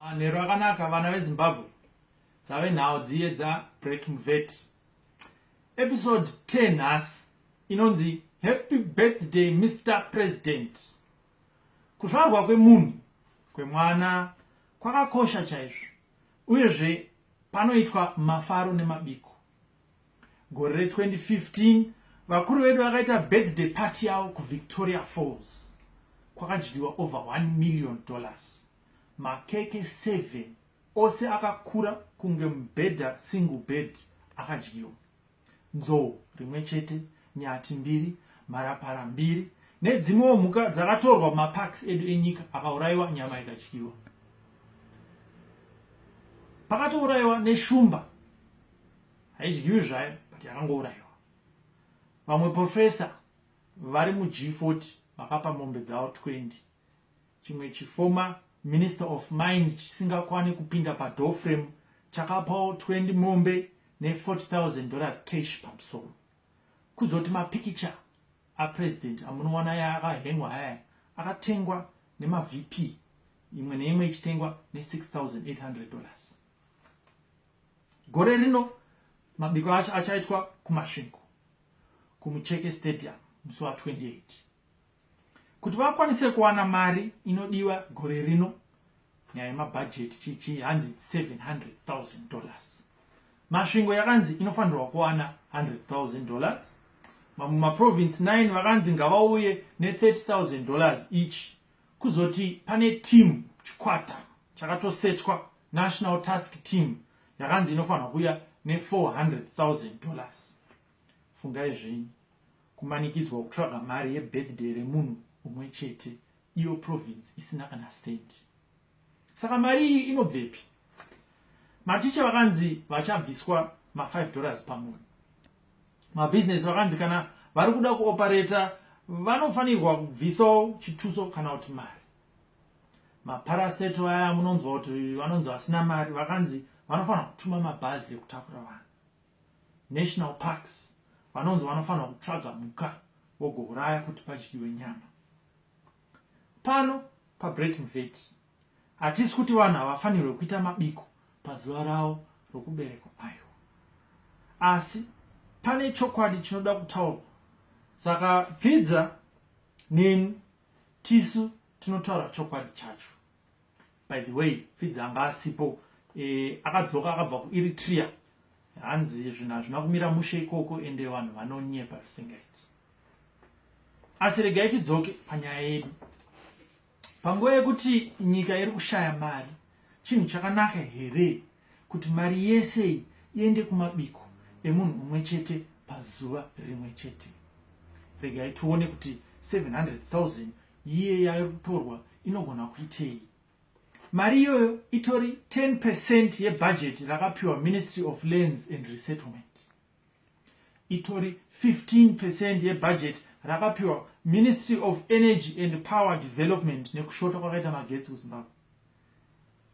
Manheru akanaka vana veZimbabwe dzave nhau dziye dza Breaking Vet. Episode 10 nhasi inonzi Happy Birthday Mr President. Kuzvarwa kwemunhu kwemwana kwakakosha chaizvo uyezve panoitwa mafaro nemabiko. gore re 2015 vakuru vedu vakaita birthday party yavo kuvictoria falls kwakadyiwa over 1 million dollars makeke 7 ose akakura kunge mubhedha single bed akadyiwa nzou rimwe chete nyati mbiri mharapara mbiri nedzimwewo mhuka dzakatorwa mumaparks edu enyika akaurayiwa nyama ikadyiwa pakatourayiwa neshumba haidyiwi zvayo but yakangourayiwa vamwe profesa vari mug40 vakapa mombe dzavo 20 chimwe chiformer minister of mines chisingakwane kupinda padofrem chakapawo 20 mombe ne40000 dollars cash pamusoro kuzoti mapikicha apresident amunowana yaakahengwa aya akatengwa nemavp imwe neimwe ichitengwa ne6800 dollars gore rino mabiko acho achaitwa kumasvingo kumucheke stadium musi wa 28 kuti vakwanise kuwana mari inodiwa gore rino nyaya yemabhajeti chichi hanzi 700000 dollars masvingo yakanzi inofanirwa kuwana 100000 dollars mamwe maprovince 9 vakanzi ngavauye ne 30000 dollars each kuzoti pane team chikwata chakatosetwa national task team yakanzi inofanirwa kuya ne400,000 dollars fungai zvenyu kumanikidzwa kutsvaga mari yebirthday remunhu umwe chete iyo province isina kana sendi saka mari iyi inobvepi maticha vakanzi vachabviswa ma5 dollars pamunhu mabhizinesi vakanzi kana vari kuda kuopareta vanofanirwa kubvisawo chituso kana kuti mari maparasteto aya munonzwa kuti vanonzi vasina mari vakanzi vanofanira kutuma mabhazi ekutakura vanhu national parks vanonzi vanofanira kutsvaga mhuka vogouraya kuti padyiwe nyama pano pabreak mvet hatisi kuti vanhu havafanirwe kuita mabiko pazuva ravo rokuberekwa ayo asi pane chokwadi chinoda kutaurwa saka pfidza neni tisu tinotaura chokwadi chacho by the way pfidzi anga asipo e, akadzoka akabva kueritrea hanzi zvinhu hazvina kumira mushe ikoko ende vanhu vanonyepa zvisingaiti asi regai tidzoke panyaya yedu panguva yekuti nyika iri kushaya mari chinhu chakanaka here kuti mari yese iyi iende kumabiko emunhu mumwe chete pazuva rimwe chete regai tione kuti 700000 yiye yayo kutorwa inogona kuitei mari iyoyo itori 10 percent yebhajeti rakapiwa ministry of lands and resettlement itori 15 percent yebhajeti rakapiwa ministry of energy and power development nekushota kwakaita magetsi kuzimbabwe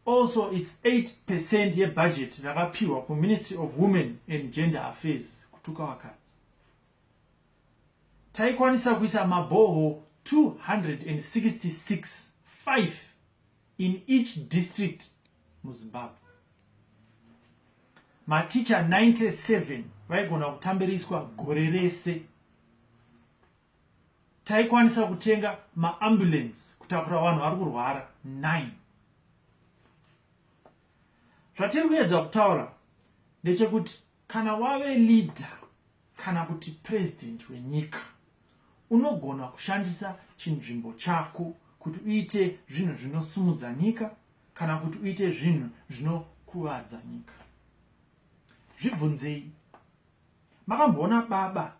also its 8 percent yebhajeti rakapiwa kuministry of women and gender affairs kutuka vakadzi taikwanisa kuisa mabhoho 266 5 in each district muzimbabwe maticha 97 vaigona kutambiriswa gore rese taikwanisa kutenga maambulance kutakura vanhu vari kurwara 9 zvatiri kuyedza kutaura ndechekuti Kana wave leader kana kuti president wenyika unogona kushandisa chinzvimbo chako kuti uite zvinhu zvinosumudza nyika kana kuti uite zvinhu zvinokuvadza nyika zvibvunzei makamboona baba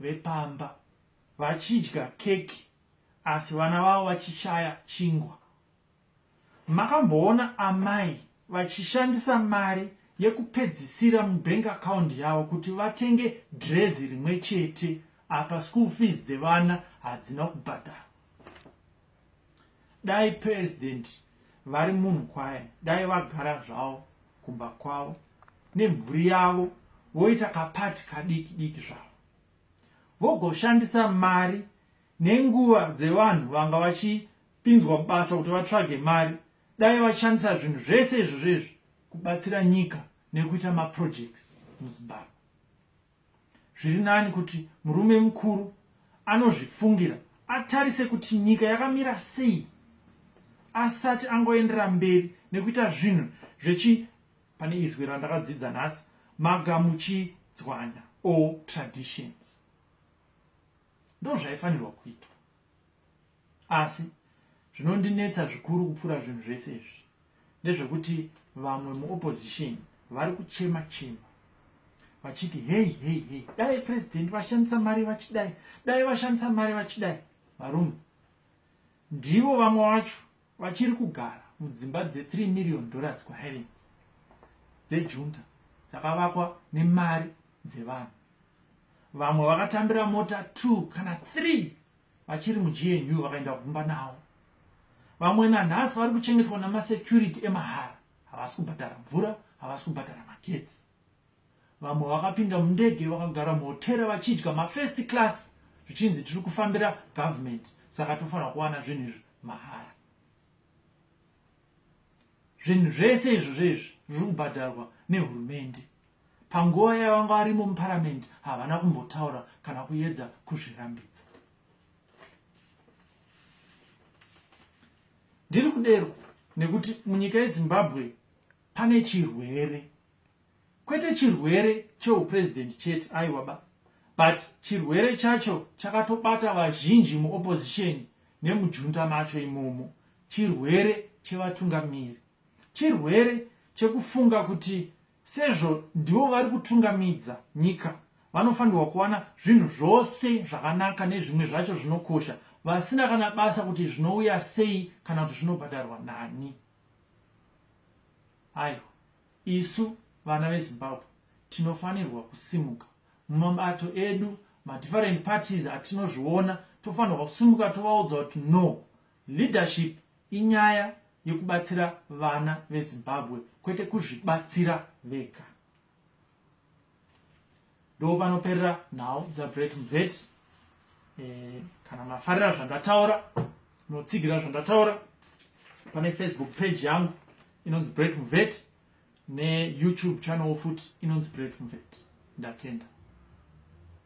vepamba vachidya keki asi vana vavo vachishaya chingwa Makamboona amai vachishandisa mari yekupedzisira mubank account yavo kuti vatenge drezi rimwe chete apa school fees dzevana hadzina kubhadhara dai president vari munhu kwaye dai vagara zvavo kumba kwavo nemhuri yavo voita kapati kadiki diki zvavo vogoshandisa mari nenguva dzevanhu vanga vachi pinzwa basa kuti vatsvage mari dai vashandisa zvinhu zvese izvo zvezvi kubatsira nyika nekuita maprojects muzimbabwe zviri nani kuti murume mukuru anozvifungira atarise kuti nyika yakamira sei asati angoendera mberi nekuita zvinhu zvechi pane izwi randakadzidza nhasi magamuchidzwanya o traditions ndozvaifanirwa kuitwa asi zvinondinetsa zvikuru kupfuura zvinhu zvese izvi ndezvekuti vamwe muopposition vari kuchema chema vachiti hei hei hei dai president vashandisa mari vachidai dai vashandisa mari vachidai varume ndivo vamwe vacho vachiri kugara mudzimba dze3 million dollars kuhighlands dzejunta dzakavakwa nemari dzevanhu vamwe vakatambira mota 2 kana 3 vachiri mugnu vakaenda kumba nawo vamwe nanhasi vari kuchengetwa namasecurity emahara havasi kubhadhara mvura havasi kubhadhara magetsi vamwe vakapinda mundege vakagara muhotera vachidya mafirst class zvichinzi tiri kufambira government saka tofanira kuwana zvinhu izvi mahara zvinhu zvese izvo zvezvi zviri kubhadharwa nehurumende panguva yavanga varimo muparamende havana kumbotaura kana kuyedza kuzvirambidza ndiri kudero nekuti munyika yezimbabwe pane chirwere kwete chirwere cheupresident chete aiwa ba but chirwere chacho chakatobata vazhinji muopposition nemujunta macho imomo chirwere chevatungamiri chirwere chekufunga kuti sezvo ndivo vari kutungamidza nyika vanofanirwa kuwana zvinhu zvose zvakanaka nezvimwe zvacho zvinokosha vasina kana basa kuti zvinouya sei kana kuti zvinobhadharwa nani aiwa Isu vana veZimbabwe tinofanirwa kusimuka mumabato edu madifferent parties atinozviona tofanirwa kusimuka tovaudza kuti no leadership inyaya yekubatsira vana veZimbabwe kwete kuzvibatsira vega. ndo panoperera nhau dzabreak mvet eh, kana mafarira zvandataura notsigira zvandataura pane facebook page yangu inonzi break mvet neyoutube channel futi inonzi break mvet ndatenda